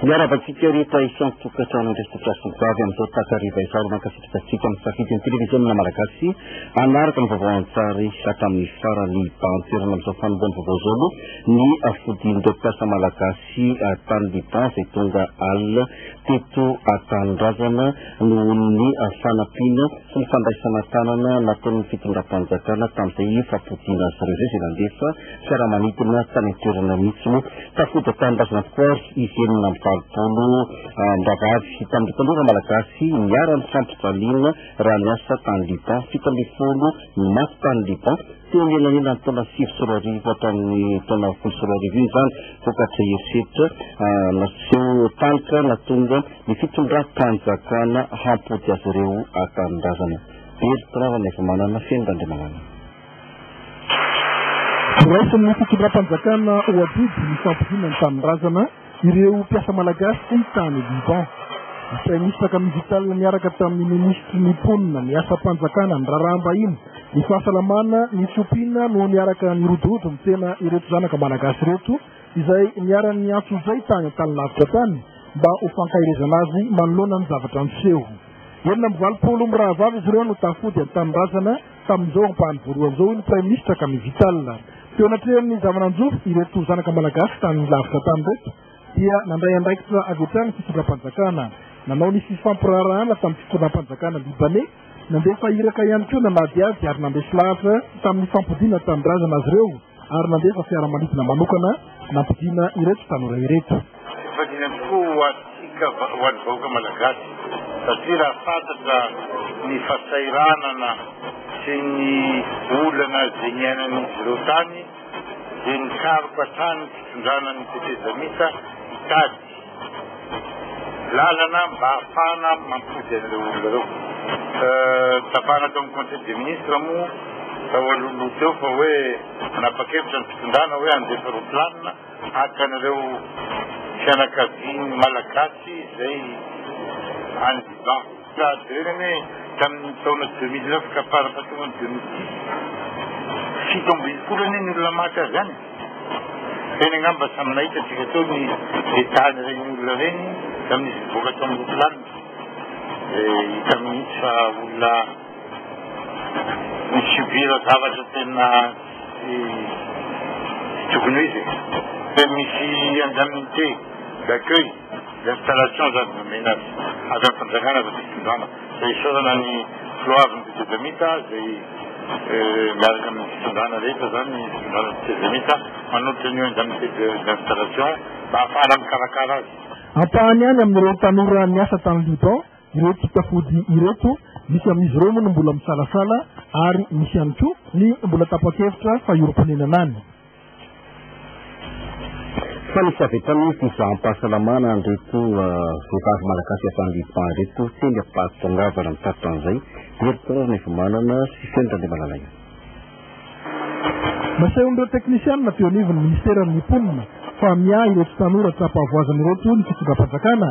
Miarahaba antsika rehetra isan'ny tokantrano andraikitra sy ny vavy amin'izao takariva izao. Asatsika misafidy ny televiziona malagasy hanaraka ny vaovao an-tsary hatramin'ny farany. Hibahan-toerana amin'izao fanombohan'ny vaovao izao aloha ny fodian'ireo mpiasa malagasy tany Liban izay tonga alina teto an-tanindrazana noho ny fanampiana sy ny fandraisana tanana nataon'ny fitondram-panjakana tamin'izay fampodiana azy ireo izay nandefa fiaramanidina tany an-toerana mihitsy moa. Tafody tanindrazana tokoa ary izy enina amby valopolo miraharahavy tamin'ireo tanora malagasy niharan'ny fampijaliana raha niasa tany Liban. Fito ambin'ny folo no maty tany Liban teo anelanelan'ny taona sivy sy roa arivo hatramin'ny taona folo sy roa arivo io izany vokatry ny herisetra ah, naseho talotra natonga ny fitondram-panjakana hampody azy ireo ah, tanindrazana. Bertrand Ranevimanana, Fenon'Andriamanana. Noraisin'ny fitondram-panjakana Ouaddid ny fampidiana ny tanindrazana ireo mpiasa malagasy fony tany Liban. Ny praiminisitra Camille Vital niaraka tamin'ny minisitry ny Mponina, ny asam-panjakana, ny raharaham-bahiny, ny fahasalamana, ny fiompiana no niaraka nirodorodo ny tena ireto zanaka malagasy ireto izay niharan'ny antso izay tany an-tany lavitra tany mba ho fankaherezana azy manoloana ny zavatra niseho. Enina amby valopolo mirahavavy izy ireo no tafody an-tanindrazana Tamin'izao ampahany voalohany izao, hoy ny Praiminisitra Camille Vital. Teo anatrehan'ny zava-nanjo ireto zanaka malagasy tany lavitra tany ireto, dia nandray andraikitra avy hatrany ny fitondram-panjakana. Nanao ny fifampiraharahana tamin'ny fitondram-panjakana Libaney, nandefa iraka ihany koa nanadihady ary nandresy lahatra tamin'ny fampodiana tanindrazana azy ireo. ary nandefa fiaramanidina manokana nampodiana ireto tanora ireto. Efa dimy amby folo ho antsika, ho an'ny vahoaka malagasy, satria raha fantatra ny fahasahiranana sy ny olana izay niainan'izy ireo tany dia nikaroka hatrany ny fitondrana ny tetezamita hitady Lalana mba hahafahana mampody an'ireo olona ireo. Tsapana tao amin'ny conseil des ministres moa tao alohaloha teo fa hoe nanapa-kevitra ny fitondrana hoe handefa roplanina haka an'ireo fianakavian'ny Malagasy izay any Liban. Sahady ireny anie tamin'ny taona deux mille neuf ka fara fahatonga ny deux mille dix. Fito ambin'ny folo anie ny olona maty azy any. Teny angamba samy nahita antsika teo ny état-ny ireny olona ireny tamin'izy nivoaka tao amin'ny ropilanina. Dia hita mihitsy fa olona ni-subir zavatra tena tsy tsy tokony ho izy e. Dia misy indemnité d'accueil. Installation zany no omena azy. Avy amin'ny fanjakana aza ny fitondrana. Izay isaorana ny filohaviny ny Tezemita izay miaraka amin'ny fitondrana rehetra zany ny fitondrana ny Tezemita manolotra an'io indemnité d'installation mba hahafahana mikarakara azy. Ampahany ihany amin'ireo tanora niasa tany Liban ireo tsitafody ireto, misy amin'izy ireo moa no mbola misalasala ary misy ihany koa ny mbola tapa-kevitra fa hiorim-ponenana any. Fa nisy avy hatrany ny fizaham-pahasalamana an'ireto vehivavy malagasy avy any Liban ireto teny am-pahatongavana ny faritra an'izay. Hery Paul Nevomanana sy Feno Randriamalalaina. Nasehon'ireo teknisianina teo anivon'ny minisiteran'ny mponina fa miahy ireto tanora tsapa voazana ireto ny fitondram-panjakana,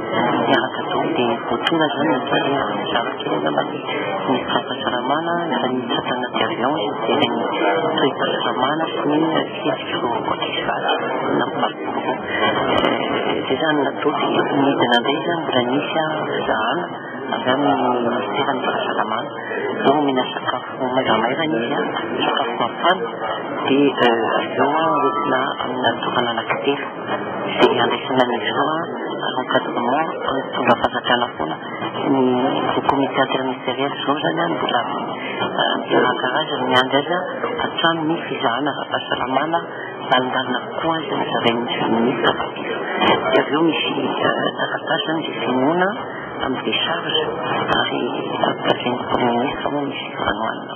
Miaraka daholo dia voatonona izany ny tany hoe mizara kely angamba ny fahasalamana, izany tsapana de avion izay dia ny toe-pahasalamana sy ny fihetsika vao ankoatr'izay vatsy na mivali-porofo. Izay izany natao dia nidina indray izany mbola nisy fizahana avy amin'ny minisiteran'ny fahasalamana. Izao omena sakafo maivamaivana izy, sakafo mafana dia avy eo hoentina amina toerana anankitelo. Dia handraisana ny Zohy à l'encadrement mitondra fanjakana foana ny le comité interministériel Zohy izany an mbola miaraka azy ny miandry azy hatramin'ny fizahana ara-pahasalamana mandalina avokoa azy ny zarain'ny ministra Babila. Dia avy eo misy taratasy izany dia finoana amin'ny décharge ary tafian'ny prime ministre moa misy fanohanana.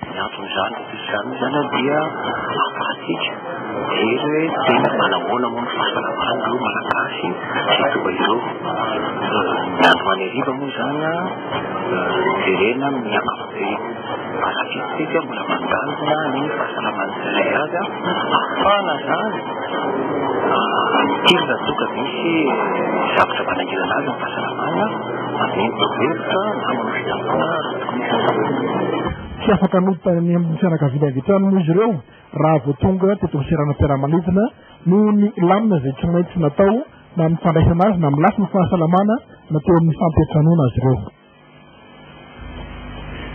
Ny anton'izany izany zany dia ahafahantsika mijery hoe tena manahoana moa ny fahasalamana ireo Malagasy izay toa izao. Ny andro any hariva moa izany jerena amin'ny ankapobeny. Arak'izay mbola mandalina ny fahasalaman'ny tsirairay avy ahafahana izany mitirina toa ka misy zavatra manahirana azy amin'ny fahasalamana, manome torohevitra na manome fiangonana. Tsy afaka nodina any amin'ny fianakaviany avy hatrany moa izy ireo raha vao tonga teto amin'ny seranam-piaramanidina noho ny lamina izay tsy maintsy natao na amin'ny fandraisana azy na amin'ny lafiny fahasalamana na teo amin'ny fampiantranoana azy ireo.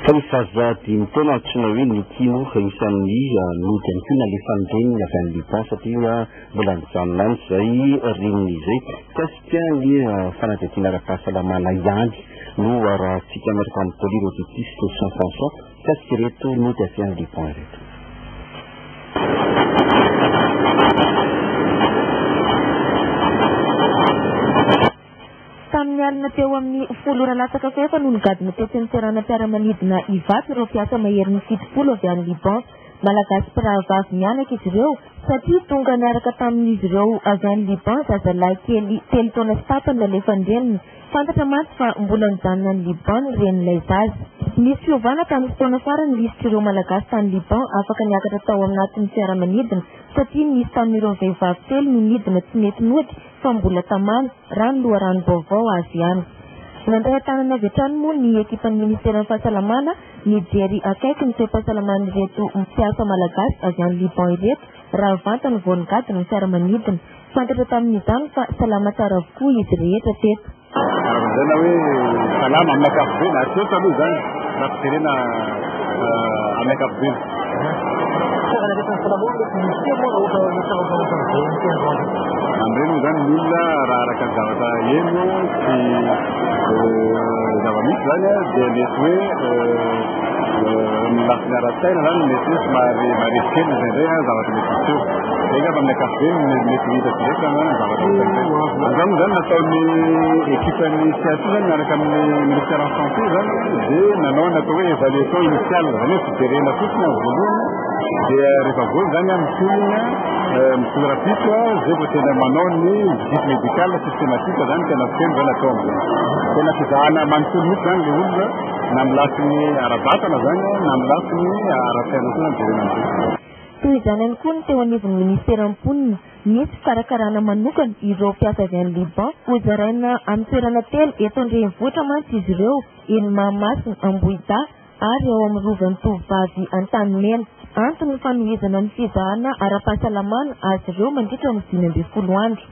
Fa ny Faza dia ny tena antsoina hoe Niki moa fa isan'ny nody ihany koa nalefan'ny reniny avy any Liban satria mbola nijanona any izay reniny izay. Tena anie fanadihadiana ara-pahasalamana ihany no arahantsika miaraka amin'ny polyrhoditiste Jean François fa tsy ireto nody avy any Liban ireto. Tamin'ny alina teo amin'ny folo ora latsaka fahefany no nigadona tetsy amin'ny seranam-piaramanidina Ivato ireo mpiasa maherin'ny fitopolo avy any Liban. Malagasy mpirahavavy mianaka izy ireo satria tonga niaraka tamin'izy ireo avy any Liban zazalahy kely telo taona sy tapany nalefan'ny reniny. Fantatra mantsy fa mbola nijanona any Liban ny renin'ilay zaza. Nisy fiovana tamin'ny fotoana farany lisitr'ireo Malagasy tany Liban afaka niakatra tao anatin'ny fiaramanidina satria nisy tamin'ireo vehivavy telo no nidina tsy nety nody fa mbola tamana, raha ny loharanom-baovao azo ihany. Nandray an-tanana avy hatrany moa ny ekipan'ny Ministeran'ny Fahasalamana Nijery akaiky ny toe-pahasalaman'ireto mpiasa malagasy avy any Liban ireto raha vantany vao nigady ny fiaramanidina. Fantatra tamin'izany fa salama tsara avokoa izy rehetra teto. Lazaina hoe salama amin'ny ankapobeny, ary teto aloha izany raha fijerena amin'ny ankapobeny. Amin'ireny moa izany ny olona raha araka ny zavatra heno sy zava-misy izany dia mety hoe ny lafiny ara-tsaina izany mety hoe somary marefo kely izay indray an zavatra mety hiseho. Zay angamba amin'ny ankapobeny ny mety hita tsy rehetra na ny zavatra hita izay. Izany moa izany nataon'ny ekipan'ny CSI izany miaraka amin'ny ministère en santé izany dia nanao ny atao hoe évaluation initiale. Jerena fotsiny amin'ny voalohany dia rehefa voa izany amin'ny tolona mitolo rapitro zay vao tena manao ny visite médicale systématique zany tena feno zany atao amin'izany tena fizahana manontolo mihitsy zany le olona na amin'ny lafiny ara-batana zany na amin'ny lafiny ara-piaina koa zany jerena amin'izany Toy izany ihany koa ny teo anivon'ny minisitera mponina, misy fikarakarana manokana ireo mpiasa avy any Liban. Hozaraina amin'ny toerana telo eto an-drenivohitra mantsy izy ireo, eny Mahamasina, Ambohidahy, ary ao amin'ny Rovan'ny Tovovavy Antanimena. Antony ny fanohizana ny fizahana ara-pahasalamana azy ireo mandritra ny dimy ambin'ny folo andro.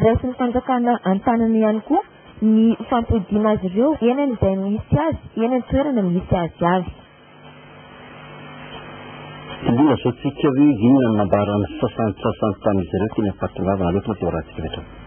Raisin'ny fanjakana an-tanana ihany koa ny fampodiana azy ireo eny amin'izay misy azy eny an-toerana misy azy avy. Tsy dia azontsika hoe inona no nambaran'ny sasantsasany tamin'izy ireo teny am-pahatongavana loatra ny fivoarantsika eto.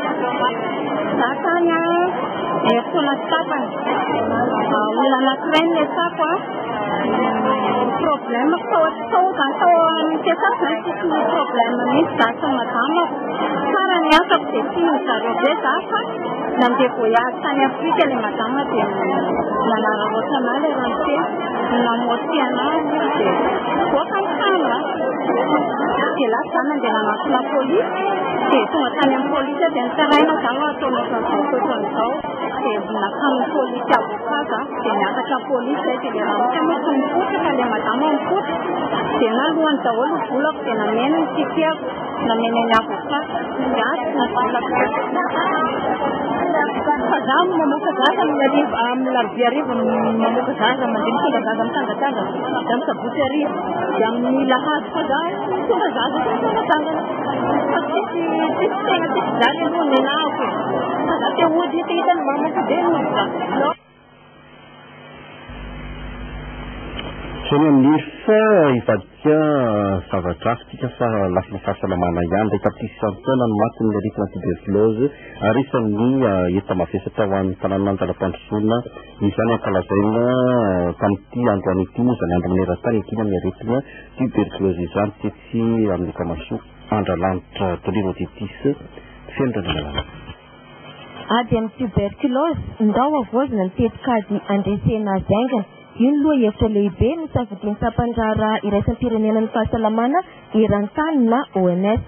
Za tany a, herintaona tsy tapany. Olona anankiray no niasako a. Problème tao tao zany tao amin'ny fiasako zany tsisy ny problème mihitsy za sy ny madama. Tsara ny asako dia tian'ny zareo be za fa nandeha voyage tany Afrika ilay madama dia nanararaotra anà ilay ramose. Namotihy anà dia nivoaka ny trano a. dia lasa za nandeha nanantona polisy dia tonga tany amin'ny polisy dia nitaraina za no ataonao izao toetra an'izao dia nakamin'ny polisy avoka za dia niakatra polisy zay dia le ramotra moa tsy mipotra fa le madama mipotra dia na lohany daholo volako dia nameno ny tikiako nameno ny avoka dia azy na volako fa za mamoka zaza amin'ny larobe arivo mamoka zaza mandeha mitondra zaza mitangatanga Madame Sabotsy Arivo, dia amin'ny lahady fa za tonga za za tsy manatangana. Fa tsisy tsisy tegna tsisy zany aloha ny nahako e. Fa za te hody te hita ny mamako dia hody za. Teny amin'ny fa hivadika zavatra hafa tsika fa lafiny fahasalamana ihany ilay tapitrisa isan-taona ny maty ny aretina tuberculose ary isan'ny heta mavesatra ho an'ny tanàna an-dalam-pandrosoana Izany nampalazaina tamin'ity androany ity moa izany andro maneran-tany ankiana ny aretina tuberculose izany tetsy amin'ny lokamasoa Andralanitra Tolima Titis feno ranomalalaka. Ady amin'ny tuberculose, ndao havaozina ny tetikady handresena azy haingana. Io no lohahevitra lehibe nosafidian'ny Sampan'ny Raharaha Iraisam-pirenena ny Fahasalamana Eran-tany na OMS.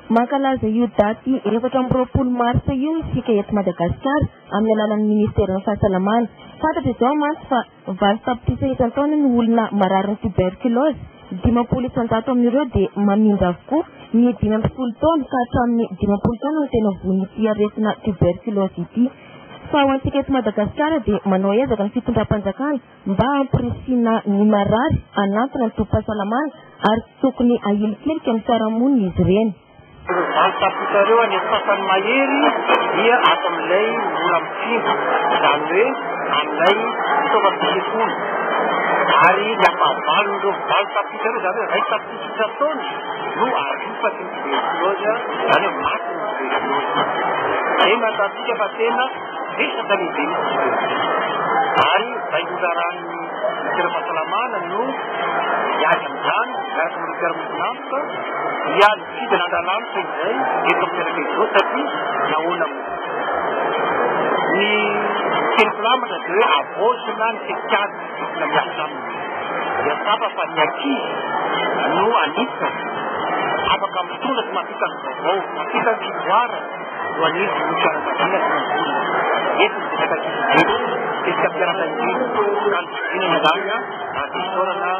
Mankalaza io daty efatra amby roapolo marsa io isika eto Madagasikara, amin'ny alalan'ny Ministeran'ny Fahasalamana. Fantatra izao mantsy fa valo tapitrisa isan-taona ny olona mararin'ny tuberculose, dimampolo isan-jato amin'ireo dia mamindra avokoa, ny dimy amby folo taona ka hatramin'ny dimampolo taona no tena voan'ity aretina tuberculose ity. Fa ho antsika eto Madagasikara dia manao ezaka ny fitondram-panjakana mba hampirisihina ny marary hanantona ny tobim-pahasalamana ary tsy tokony ahilikilika ny fiarahamonina izy ireny. Izany tapitrareo any amin'ny sasany mahery dia ato amin'ilay mora mifindra, izany hoe amin'ilay fitaovam-pitsikona. Ary ny ampahavalon'ireo valo tapitrareo, izany hoe iray tapitrisa isan-taona, no arofaky ny tuberculose, izany hoe maty ny tuberculose. Izay no ahitantsika fa tena betsaka ny be ny tuberculose. Ary izay no raharahana. Ministera ara-pahasalamana no miady amin'izany miaraka amin'ny ministera mivonanto dia ny fidina andralanitra izay eto amin'ny fianakaviana izao satria nahoana moa ny teny filamatra dia hoe avaozina ny tetikady na miasa aminy dia tsapa fa ny ankizy no anisan'ny afaka mitondra sy mampita ny vaovao mampita ny fivoarana Voanidy ny fiarahabana sy ny vola. Eto ny resaka ankizy be, resaka fiaraha-tahiana, kalo fidina ny lahy ary fisaorana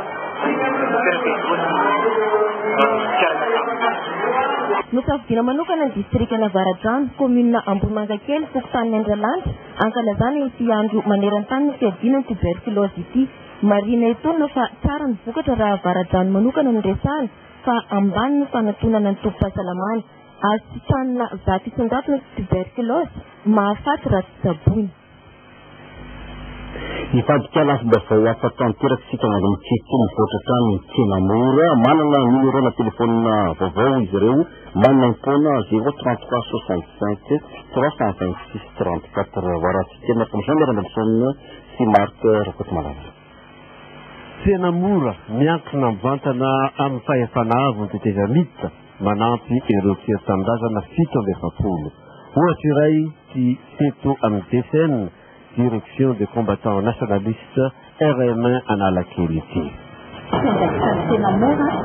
Nosafidiana manokana ny distrikan'Avaradrano, kaominina Ambohimangakely, fokontany Andralanitra, hankalazana ity andro maneran-tany ny fiadiana ny tuberculose ity. Marihina etoana fa tsara ny vokatra raha Avaradrano manokana no resahana fa ambany ny fanatonana ny tobim-pahasalamana. Azo tsitsanina vato isan-jato ny tiberkilaozy, mahafaty raha tsy tsaboina. Hifandika lafim-baovao hafa tanteraka isika mandro mitsitsy mivoatra hatrany ny tsena mora. Manana numéro na téléphone vaovao izy ireo maimaim-poana 033 65 326 34. Varatsy tsena Commission Miarambanison sy Marc Rakotomalala. Tsena mora, miankina mivantana amin'ny fahefana avo ny tetezamita, manampy ireo mpiely tanindrazana fito amby efapolo. Ohatra iray ity teto amin'ny DCN, Direction des Combattants Nationalistes, RM1 Analakely ity. Fiandraisan'ny Tsena mora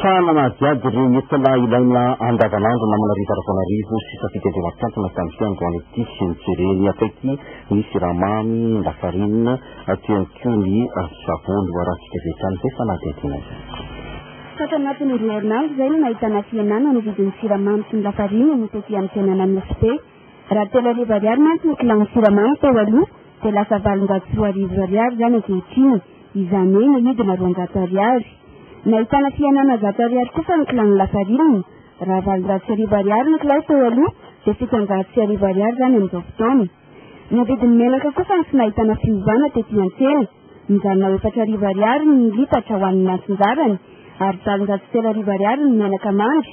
Fa nanadihady ireny entona ilaina andavanandro na manarivo ara-taonarivo sisa fito andro matontantona tamin'ity androany ity sy ny jereny akaiky ny siramamy, ny lafarinina, teo ihany koa ny savony ho arahantsika avy hatrany izay fanadihadiana izay. Fa tanatin'ny roa herinandro izay no nahitana fihenana ny vidin'ny siramamy sy ny lafarinina no tety amin'ny tsena Anosibe. Raha telo arivo ariary mantsy ny kilaon'ny siramamy teo aloha dia lasa valonjato sy roa arivo ariary izany ankehitriny. izany hoe nahidina roanjato ariary. Nahitana fihenana zato ariary kosa ny kilaon'ny lafarinina. Raha valonjato sy arivo ariary ny kilao teo aloha, dia fitonjato sy arivo ariary izany amin'izao fotoana. Ny vidin'ny menaka kosa no tsy nahitana fiovana tety an-tsena. Nijanona ho efatra arivo ariary ny litatra ho an'ny antsinjarany, ary valonjato sy telo arivo ariary ny menaka mandry.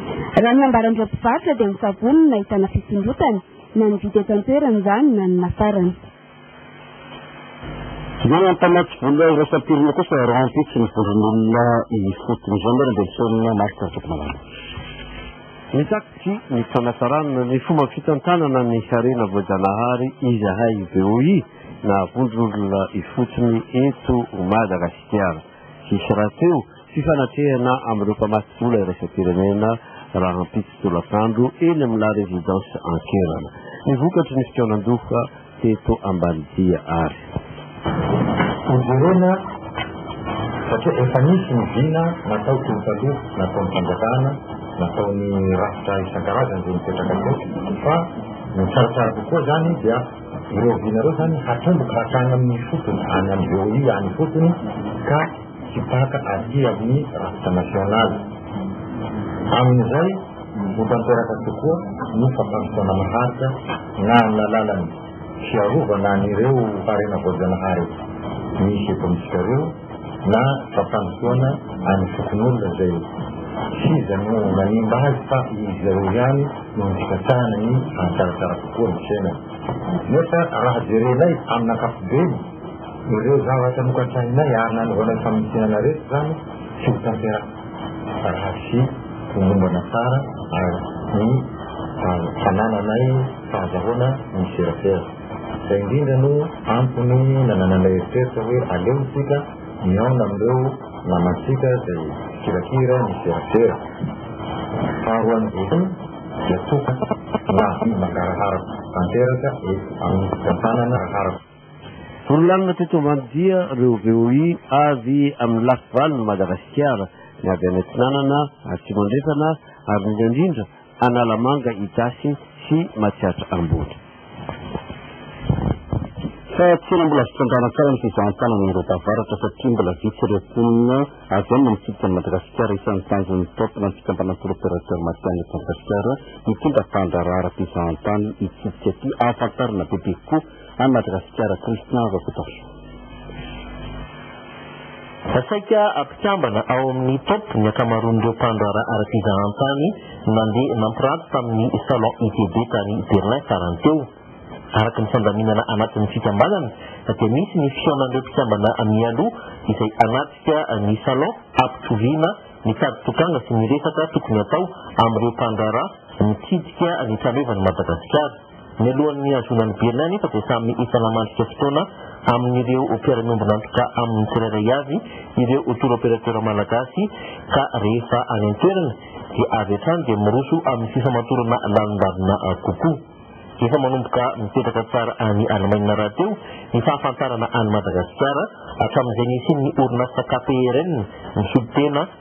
Raha ny ambaran'ireo mpivarotra dia ny savony no nahitana fisondrotana, na ny vidy eto an-toerana izany na ny nafarana. Ny mpamatsy vola iraisam-pirenena kosa rahampitso ny vondron'olona ifotony. Izany ary dia misaonana Marc Rakotomalala. Mitaky ny fanatsarana ny fomba fitantanana ny harena voajanahary izahay VOI na vondron'olona ifotony eto Madagasikara. Hisy rahateo Fifanatehana amin'ireo mpamatsy-bola iraisam-pirenena rahampitso tolakandro eny amin'ny La Résidence Ankerana. Ny vokatry ny fikaonan-doha teto Ambanidia ary. Hojerena satria efa nisy ny vina natao teo taloha, nataon'ny fanjakana, nataon'ny rafitra isan-karazany izay mipetraka teo fa ny tsaratsara kokoa izany dia ireo vina ireo izany hatomboka hatrany amin'ny fotony, any amin'ny VOI any ifotony ka hitsipaka aty amin'ny rafitra nasionaly. Amin'izay, ho tanteraka tokoa ny fampandrosoana maharitra na amin'ny alalan'ny fiarovana an'ireo harena voajanahary misy eto amintsika ireo na fampandrosoana an'ny fokonolona izay tsy iza no nanimba azy fa izy ireo ihany no nifikatsahana ny hahatsaratsara kokoa ny fiainana. Nefa raha jerenay amin'ny ankapobeny, Ireo zavatra nokasainay ary nanaovana famintinana rehetra izany tsy ho tanteraka raha tsy homombana tsara ny fanananay fahazahoana ny serasera. Izay indrindra no antony nanananay eritreritra hoe aleontsika mihaona amin'ireo namantsika izay kirakira ny serasera. Faharoan'ny voalohany dia toka na mangarahara tanteraka eto amin'ny fitantanana harako. Vorolanona teto ambany dia reo VOI avy amin'ny lafy valon'i Madagasikara, ny avy any Atsinanana, Atsimo Andrefana ary indrindra indrindra Analamanga, Itasy sy Matsiatra Ambony. Fa tena mbola azo tsandrana tsara ny fizahan-tanana ireo tavaratra satria mbola vitsy ireo mponina avy any mamitsidika an'i Madagasikara, isan'ny tanjon'ny top na ny fikambanana Tour Opérateur Matihanina eto Madagasikara, mitondra tandraharaha ara-pizahan-tany hitsidika aty, ahafantarana bebe kokoa any Madagasikara Christian Rakotacho. Saika ampikambana ao amin'ny top ny ankamaroan'ireo mpandraharaha ara-pizahantany nandeha nampiranty tamin'ny Salon ITB tany Berlin farany teo. Araka ny fandaminana anatin'ny fikambanana dia misy ny fihaonan'ireo mpikambana mialoha izay hanatrika ny Salon hampitoviana ny tady tokanga sy ny resaka tokony hatao amin'ireo mpandraharaha mitsidika ny trano hevan'i Madagasikara. Mialohan'ny nihazoana ny Berlin anefa dia samy efa namandrika fotoana amin'ireo mpiara-miombon'antoka aminy tsirairay avy ireo tour opérateur malagasy ka rehefa any an-toerana dia avy hatrany dia miroso amin'ny fifamatorana lalindalina kokoa. Efa manomboka mipetraka tsara any Alemaina rahateo ny fahafantarana an'i Madagasikara hatramin'izay nisian'ny orinasa KPRN misolo tena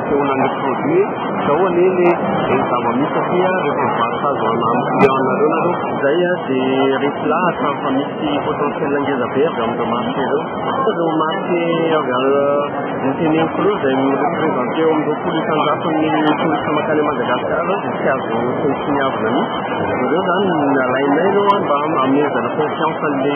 Fotoana ny produit e, zao anie le ny zava-misy satria rehefa mivarotra azy ho an'ny client-nareo nareo. Zay a, de reto lahatra fa misy potentiel ngeza be avy amin'ireo marché reo. Ireo marché avy any noteneniko reo zay mi-represente eo amin'ny roapolo isan-jato ny touristes mankany Madagascar reo de tsy azo tsinontsiniavina mihitsy. Ireo zany ny alainay reo a mba hanomezana confiance an'le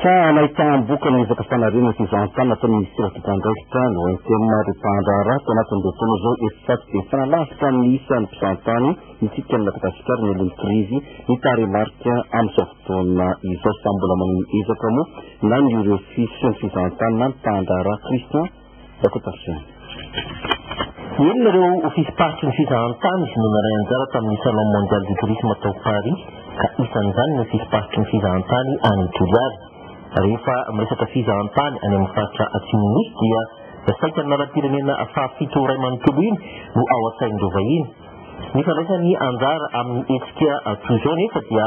Fa nahitaham-boky ny ezaka fanariana sy fizahantany ataon'ny minisitera tompon'andraikitra ny OMTM ary mpahandraharaha tao anatin'izao fotoana izao eto Tsato dia tena lavitra amin'ny isan'ny mpisahantany isika any Madagasikara ny alohan'ny krizy ny tarehimarika amin'izao fotoana izao. Samy mbola manao ny ezaka moa na ny UREFI sy ny fizahantany na ny mpahandraharaha Christian Dakotasiana. Enina ireo ofisym-paritry ny fizahantany no naray anjara tamin'ny Salon Mondial du Tourisme tao Paris ka isan'izany ny ofisym-paritry ny fizahantany any Toliara. Rehefa miresaka fizahantany any amin'ny faritra Atsimon'ny Nosy dia saika ny lalam-pirenena fahafito iray manontolo iny no ao an-tsain'ireo vahiny. Ny fandraisany anjara amin'ny hetsika toy izao nefa dia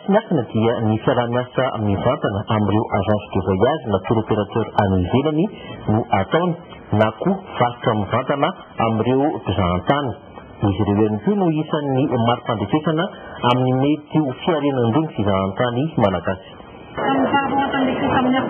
Tsy miafina dia ny fiaraha-miasa mivantana amin'ireo agence de voyage na tour opérateur any ivelany no ataony na koa varotra mivantana amin'ireo mpizahantany. Izy ireo ihany koa no isan'ny mari-pandrefesana amin'ny mety ho fiarenandroan'ny fizahantany malagasy.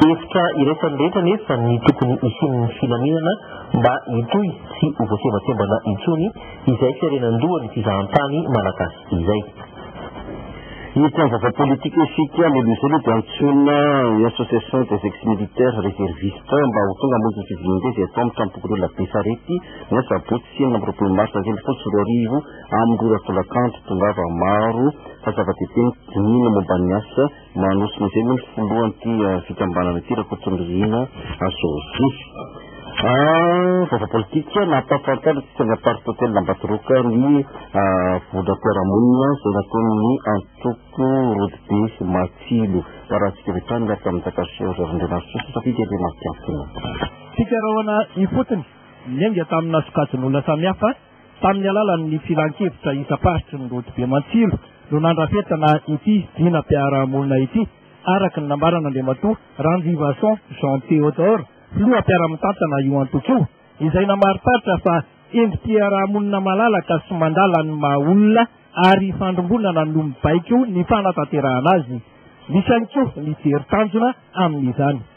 Hevitra iraisan'ny rehetra anefa ny tokony hisian'ny filaminana mba hitohy sy ho voasembasembana intsony izay fiarenan-dohan'ny fizahantany malagasy. izay. Io mpiandry vava politika io sy Tia Lolo izay aloha dia antsoina ny association des ex-militaires réservistes mba ho tonga hamonjy ny fivoriambe izay atao amin'ny Tranom-pokonolona Besarety ny asabotsy enina amby roapolo marsa iraika ambin'ny folo sy roa arivo amin'ny roa ora folakandro. Tongava maro fa zava-dehibe ny dinihina momba ny asa Manosika izay moa ny filohan'ity fikambanana ity, Rakotonirina Josy. Vaovao politika, nampahafantarina ny fisainan'ny Parti Hotel Ambatoroka ny vola mpiara-monina izay nataon'ny antoko Rodobe Matsilo. Baratsika avy hatrany miaraka amin'ny Takasy Roger Andrianarison, safidy Andrianarison. Fikarohana ifotony, niainga tamina sokajin'olona samihafa Tamin'ny alalan'ny filankevitra isam-paritry ny rodobe Mantsilo no nandrafetana ity vinam-piarahamonina ity, araka ny nambaran'Andriamatoa Ranjivason Jean Théodore, filoha mpiara-mitantana io antoko io, izay namariparitra fa endri-piarahamonina malalaka sy mandala ny maha olona ary ifandrimbonana no mibaiko ny fanatanterahana azy. Misy ihany koa ny jery tanjona amin'izany.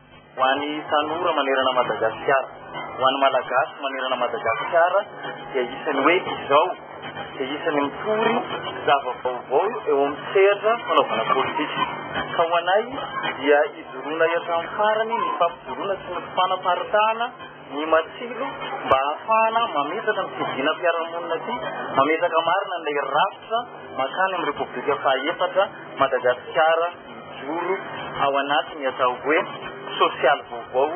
Ho an'ny tanora manerana Madagasikara, ho an'ny Malagasy manerana Madagasikara dia isan'ny hoe izao dia isan'ny mitory zava-baovao eo amin'ny sehatra fanaovana politika. Ka ho anay dia hijoroana hatramin'ny farany ny fampijoroana sy ny fanaparitahana ny matsilo mba hahafahana mametraka ny fidianam-piarahamonina ity, mametraka marina ilay rafitra mankany amin'ny Repoblika fahaefatra, Madagasikara hijoro ao anatin'ny atao hoe sosialy vaovao,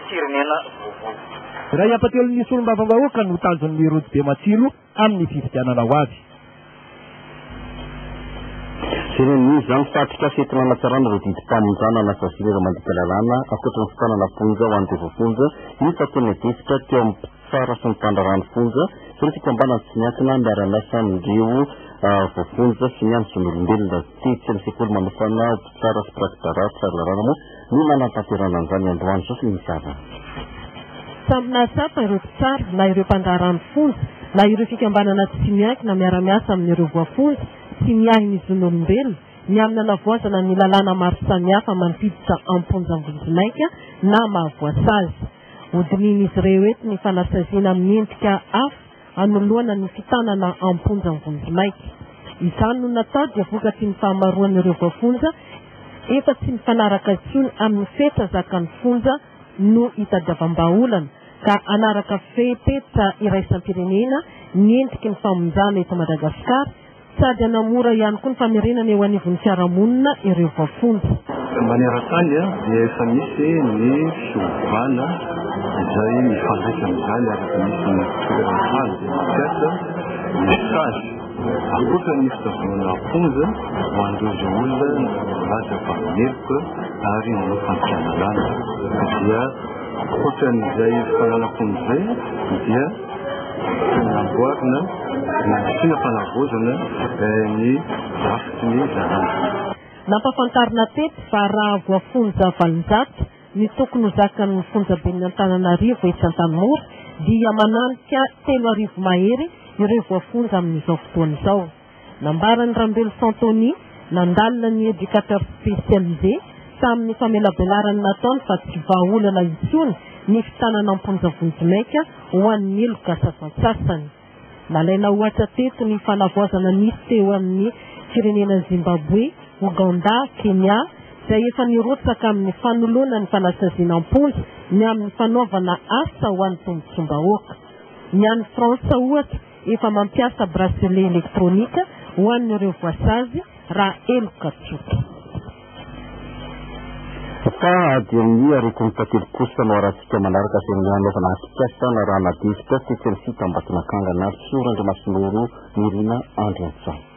firenena vaovao. Iray hampatelon'ny solombavambahoaka no tanjon'ny rojo be matsilo. amin'ny fifidianana ho avy. Jereo ny news zany fa atrikasa entina hanatsarana ireo didim-panondrana na saziana ireo mandika lalàna ankoatra ny fitanana fonja ho an'ireo voafonja iny fa tena defitra teo amin'ny mpitsara sy ny mpandraharaha ny fonja sy ny fikambanana tsy miankina miara-miasa amin'ireo ah, voafonja sy ny amin'ny zon'olombelona tetsy amin'ny sekoly manofana mpitsara sy mpirakidrarahitra lalàna moa Ny manantanterana an'izany androany izao sy ny tariny. Samy nahatsapa ireo mpitsara na ireo mpandraharaha ny fonja na ireo fikambanana tsy miankina miara-miasa amin'ireo voafonja sy miahy ny zon'olombelona ny amin'ny hanavoazana ny lalàna maro samihafa mampiditra am-ponja vonjimaika na mahavoasazy. Hodinihin'izy ireo eto ny fanasaziana amin'ny endrika hafa anoloana ny fitanana am-ponja ny vonjimaika. Izany no natao dia vokatry ny fahamaroan'ireo voafonja efa tsy mifanaraka intsony amin'ny fetra zakan'ny fonja no itadiavam-bahaolana ka hanaraka fepetra iraisam-pirenena ny endriky ny famonjana eto Madagasikara Sady hanamora ihany koa ny famerenana eo anivon'ny fiarahamonina ireo vafomba. Maneran-tany dia efa misy ny fiovana izay mifandraika amin'izany araka ny isan'ny toeran-tany dia mampiasa ny stage ankoatra ny fitazonana am-ponja ho an'ireo izay olona milaza fa meloka ary manao fampianarana dia ankoatra an'izay fananam-ponja izay dia Namboarina nandrisina fanavaozana ny drafitry ny zandary. Nampahafantarina teto fa raha voafonja valonjato ny tokony ho zakan'ny fonjaben'ny Antananarivo etsy Antanimora dia mananika telo arivo mahery ireo voafonja amin'izao fotoana izao. Nambaran'i Rambelo Santony, nandalina ny Educateur Spécialisé, tamin'ny famelabelarany nataony fa tsy vahaolana intsony ny fitanana am-ponja vonjimaika ho an'ny heloka sasantsasany. Nalaina ohatra teto ny fanavaozana nisy teo amin'ny firenena Zimbaboe, Ogandà, Kenya, izay efa nirotsaka amin'ny fanoloana ny fanasaziana am-ponja ny amin'ny fanaovana asa ho an'ny tombotsoam-bahoaka. Ny any Frantsa, ohatra, Efa mampiasa bracelet électronique ho an'ireo voasazy raha heloka tsotra. Ka ady amin'ny aretin'ny tantely kosa no arahantsika manaraka izay ny hanaovana atrikasa na raha na difotra sy tsy ny fitambaton'akanga na tsy ora Andriamasinoro Nirina Andriantsay.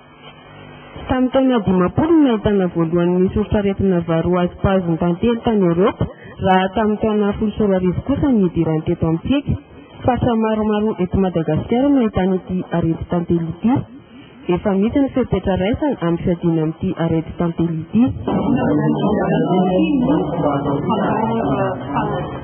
Tamin'ny taona dimampolo no nahitana voalohany ny soritr'aretina varoazy paziny tantely tany Eoropa, raha tamin'ny taona folo sy roa arivo kosa ny nidirany teto amintsika. Faritra maromaro eto Madagasikara no ahitana ity areti-tantely ity. Efa misy ny fepetra raisana amin'ny fiadiana amin'ity areti-tantely ity.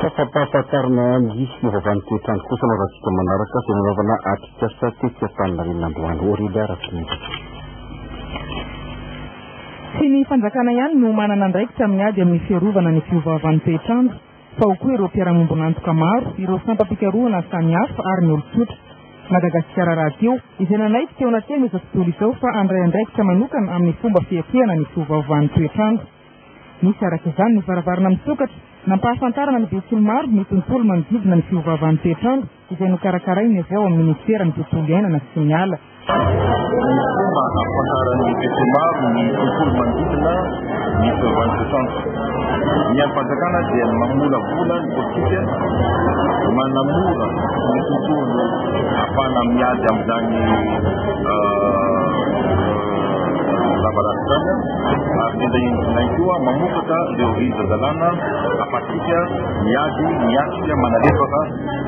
Safampahafantarana ny movavan'ny toetr'andro kosa no rahantsika manaraka izay nanaovana atrikasa tetsy Antaninarenina androany. Aurélia Rakotonirina. Tsy ny fanjakana ihany no manana andraikitra amin'ny ady amin'ny fiarovana ny fiovaovan'ny toetr'andro fa ao koa ireo mpiara-miombon'antoka maro, ireo sampam-pikarohana samihafa ary ny olon-tsotra. Madagasikara Rahateo, izay nanaiky teo anatin'izao tontolo izao fa handray andraikitra manokana amin'ny fomba fiatrehana ny fiovaovan'ny toetr'andro. Nisy araka izany ny varavarana misokatra nampahafantarana ny betsiky ny maro ny tontolo manodidina ny fiovaovan'ny toetr'andro izay nokarakarain'ny avy ao amin'ny Ministeran'ny Tontolo Iainana sy ny Ala. Fomba hampahafantaran'ny betsiky ny maro ny tontolo manodidina ny fiovaovan'ny toetr'andro. Ny andrim-panjakana dia mamolavola ny politika manamora ny tontolo afana miady amin'izany lavaratra izany. ary sendra indrinay koa mamokatra ireo rijan-dalàna ahafahantsika miady, miatrika, manalefaka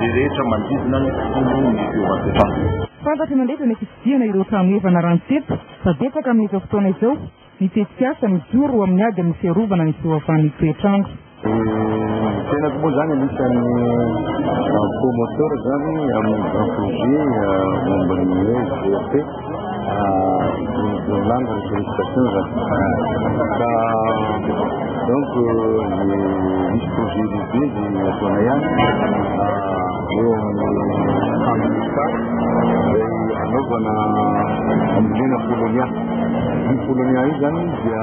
izay rehetra manodidina ny tontolo ny fiovan-toetrandro. Fantatry ny mandeha fa mety hitsidihana ireo trano efa naranty-tsetroka fa betsaka amin'izao fotoana izao ny tetikasa mijoro amin'ny ady amin'ny fiarovana ny fioavan'ny toetrandro. Ny tenako moa izany anisan'ny promoteur izany amin'ny grand projet momba ny hoe GRP ny langue ny sollicitation izany ka donc ny misy projet lehibe dia ataonay any eo amin'ny handrista izay anaovana ambolena polonia ny polonia io izany dia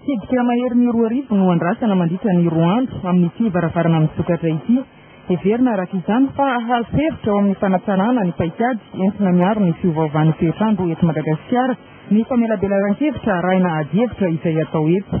Tsidika maherin'ny roa arivo no andrasana mandritra ny roa andro amin'ity varavarana misokatra ity. Heverina araka izany fa hahazo hevitra ao amin'ny fanatsarana ny paikady entina miaro ny fiovaovan'ny toetr'andro eto Madagasikara ny famelabelaran-kevitra arahina adihevitra izay atao eto.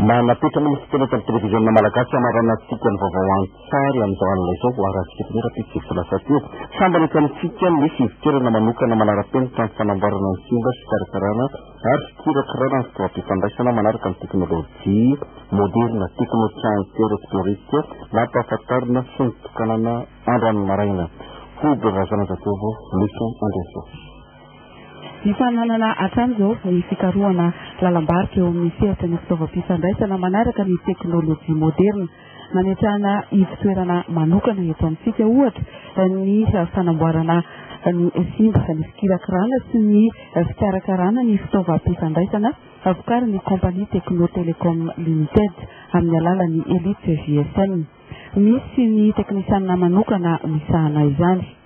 Nanapetranao ny fiteny eto amin'ny televiziona malagasy hanaranan-tsika ny vaovao andro. Sary amin'izao alina izao voaharantsika eto amin'ny rahampitso izay lasa teo. Sambany eto amintsika ny fivokerana manokana manara-penitra amin'ny fanamboarana ny simba sy fikarakarana ary fikirakirana ny fitaovam-pifandraisana manaraka ny teknolojia moderina Technotrans Electronique nampahafantarina sy nitokanana androany maraina. Hoby Razanajatovo, Micho Andriantsoa. Mifananana hatramin'izao ny fikarohana lalam-barotra eo amin'ny sehatra ny fitaovam-pifandraisana manaraka ny teknolojia moderina. Mametrahana ivon-toerana manokana eto amintsika, ohatra, ny fanamboarana ny simba, ny fikirakirana sy ny fikarakarana ny fitaovam-pifandraisana vokarin'ny Compagnie Techno Telecom Limited amin'ny alalan'ny Elite GSM. Misy ny teknisianina manokana misahana izany.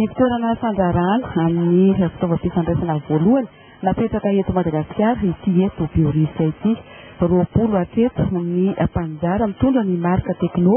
Ivon-toerana fandrarana amin'ny fitaovam-pifandraisana voalohany napetraka eto Madagasikara ity eto Biorisa ity. Roapolo hatreto ny mpaninjara mitondra ny marika Tecno.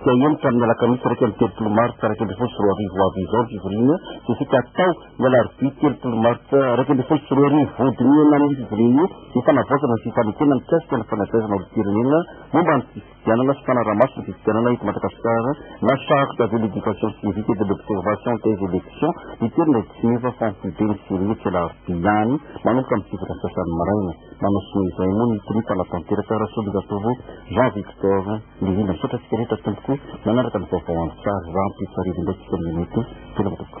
Dia eny ka amin'ny alakamisy iraika amby telopolo martsa iraika ambin'ny folo sy roa arivo ho avy izao ny fivoriana dia isika hatao ny alarobia telopolo martsa iraika ambin'ny folo sy roa arivo. Vodinihina amin'io fivoriana io ny fanavaozana ny fifanekena mikasika ny fanabeazana olom-pirenena momba ny fifidianana sy fanaraha-maso ny fifidianana eto Madagasikara na Charte de l'Education Civique et de l'Observation des Elections miterina etsy Simeva Famofoibeny sy Irihetsy alarobia ihany manomboka amin'ny sivy ora sy sasany maraina. Manao sonia izay moa ny Tony mpanatanteraka Rasologatovy Jean Victor. Indrindra misaotra antsika rehetra tompoko nanaraka ny vaovao andro tsara rahampitso arivo indray tsika mihaino eto veloma tompoko